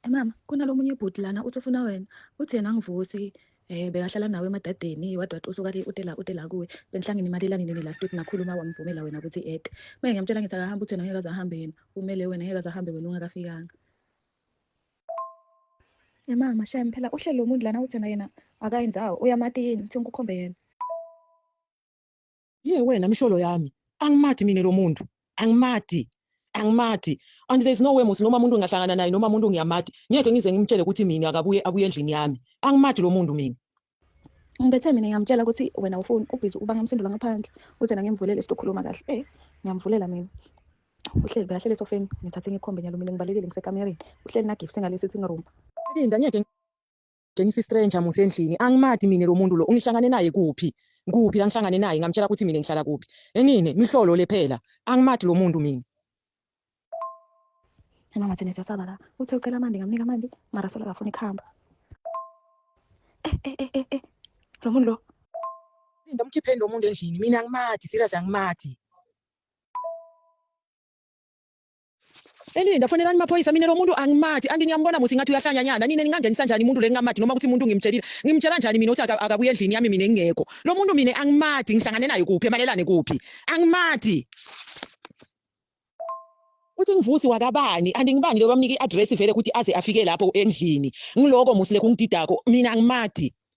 Eh, mama kunalomunye ubhuti lana uthi ufuna wena uthi yena angivusi eh bekahlala nawe emadadeni wadwa usuka ke utela utela kuwe benhlangene imali elani nini last week nakhuluma wamvumela wena ukuthi ed manje ngiyamtshela ngithi akahamba uthi ngeke azahambe yena umele wena ngeke azahambe wena ungakafikanga Eh mama shame phela uhlelo umuntu lana uthi yena akayenzawo uyamatini uthi ngikhombe yena Ye wena msholo yami. Angimathi mina lo muntu. Angimathi. Angimathi. And there's no way musi noma umuntu ngingahlangana naye noma umuntu ngiyamathi. Ngeke ngize ngimtshele ukuthi mina akabuye abuye endlini yami. Angimathi lo muntu mina. Ngibethe mina ngiyamtshela ukuthi wena ufuni ubhizi uba ngamsindula ngaphandle. Uze na ngimvulele sizokhuluma kahle. Eh, ngiyamvulela mina. Uhleli bekahlele esofeni ngithathe ngikhombe nyalo mina ngibalekile ngisekamereni. Uhleli na gift ngalesi sitting room. Linda ngeke Tshengisa istranger musa endlini. Angimathi mina lo muntu lo. Ungihlangane naye kuphi? Kuphi la ngihlangane naye? Ngamtshela ukuthi mina ngihlala kuphi. Enini? Mihlolo le phela. Angimathi lo muntu mina. Mama thina siyasaba la. Uthe ucela amanti ngamnika amanti. Mara sola akafuni kuhamba. Eh eh eh eh eh. Lo muntu lo. Linda mkhipheni lo muntu endlini. Mina angimathi, serious angimathi. Elinda fonelani maphoyisa mina lo muntu angimathi anti ngiyambona musi ngathi uyahlanyanyana nina ningangenisa njani umuntu le ngingamathi noma ukuthi umuntu ngimtshelile ngimtshela njani mina ukuthi akabuye endlini yami mina ngingekho lo muntu mina angimathi ngihlangane naye kuphi emalelane kuphi angimathi uthi ngivusi wakabani anti ngibani lo bamnika i-address vele ukuthi aze afike lapho endlini ngiloko musi lekungididako mina angimathi